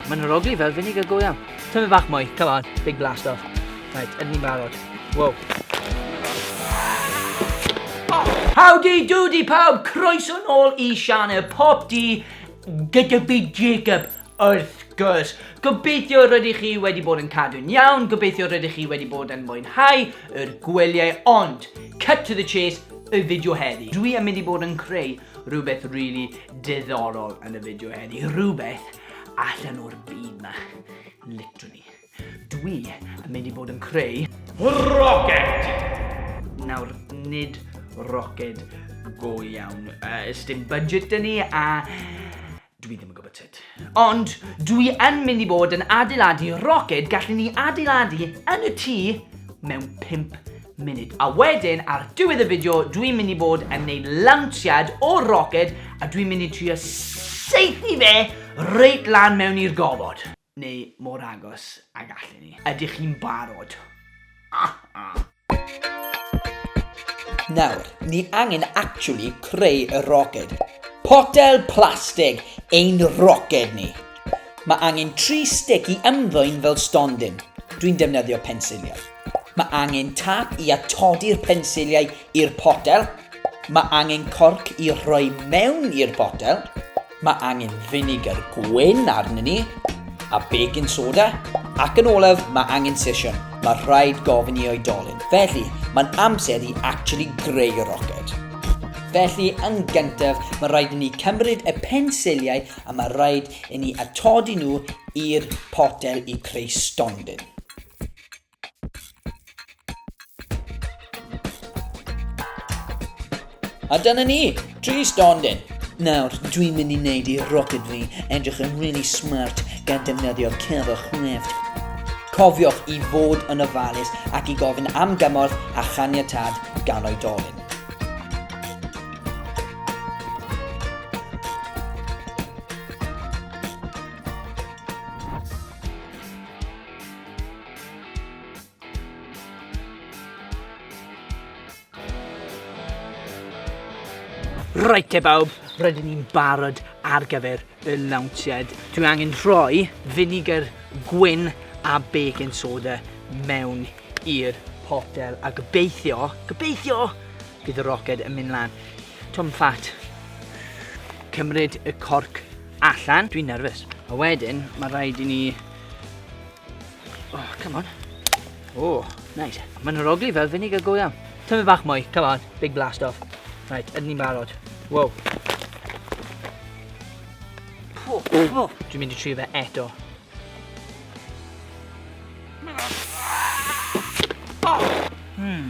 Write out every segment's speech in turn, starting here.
Mae'n arogli fel vinegar go iawn. Tyfu bach mwy, come on, big blast off. Right, yn ni'n barod. Wow. Howdy doody pawb, croeso nôl i Sianel Pop D gyda fi Jacob wrth gwrs. Gobeithio rydych chi wedi bod yn cadw'n iawn, gobeithio rydych chi wedi bod yn mwynhau yr gwelyau, ond cut to the chase y fideo heddi. Dwi am mynd i bod yn creu rhywbeth really diddorol yn y fideo heddi, rhywbeth Allan o'r byd ma. Literally. Dwi yn mynd i bod yn creu... Rocket! Nawr, nid rocket go iawn. Uh, dim budget dyn ni a dwi ddim yn gwybod sut. Ond dwi yn mynd i bod yn adeiladu roced gallwn ni adeiladu yn y tŷ mewn 5 munud. A wedyn, ar diwedd y fideo, dwi'n mynd i bod yn neud lawnsiad o'r roced a dwi'n mynd i trio seithi fe reit lan mewn i'r gofod. Neu mor agos a gallen ni. Ydych chi'n barod? Ah, ah. Nawr, ni angen actually creu y roced. Potel plastig ein roced ni. Mae angen tri sticky ymddwyn fel stondin. Dwi'n defnyddio pensilio. Mae angen tap i atodi'r pensiliau i'r potel. Mae angen corc i rhoi mewn i'r botel. Mae angen vinegar gwyn arnyn ni, a baking soda, ac yn olaf mae angen sesiwn. Mae rhaid gofyn i oedolyn. Felly, mae'n amser i actually greu y roced. Felly, yn gyntaf, mae rhaid i ni cymryd y pensiliau a mae rhaid i ni atodi nhw i'r potel i creu stondin. A dyna ni, tri stondin. Nawr, dwi'n mynd i wneud i rocket fi edrych yn really smart gan defnyddio cefr chrefft. Cofiwch i fod yn ofalus ac i gofyn am gymorth a chaniatad gan oedolyn. Reit te bawb, rydyn ni'n barod ar gyfer y lawnsiad. Dwi angen rhoi vinegar gwyn a baking soda mewn i'r potel a gobeithio, gobeithio, bydd y roced yn mynd lan. Tom Fat, cymryd y corc allan. Dwi'n nerfus. A wedyn, mae rhaid i ni Oh, come on. Oh, nice. Mae'n rogli fel finig y go iawn. Tyfu bach mwy, come on. Big blast off. Right, ydyn ni'n barod. Wow. Oh, oh. Dwi'n mynd i trio fe eto. Oh. Hmm.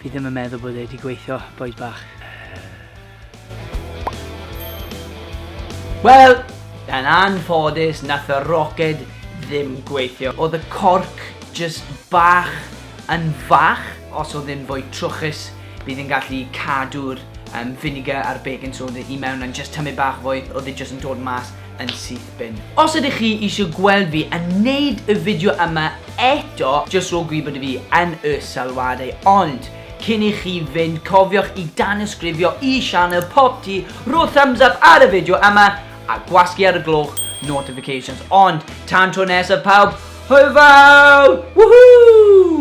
Fi ddim yn meddwl bod e wedi gweithio, boys bach. Wel, yn anffodus, nath y roced ddim gweithio. Oedd y corc just bach yn fach, os oedd ddim fwy trwchus, bydd yn gallu cadw'r um, vinegar a'r baking soda i mewn yn just tymud bach fwy, oedd e just yn dod mas yn syth bin. Os ydych chi eisiau gweld fi yn neud y fideo yma eto, jyst rho gwybod i fi yn y sylwadau, ond cyn i chi fynd cofiwch i danysgrifio i sianel Popty, rho thumbs up ar y fideo yma, a gwasgu ar y gloch notifications, ond tan tro nesaf pawb, hwyl fawr! Woohoo!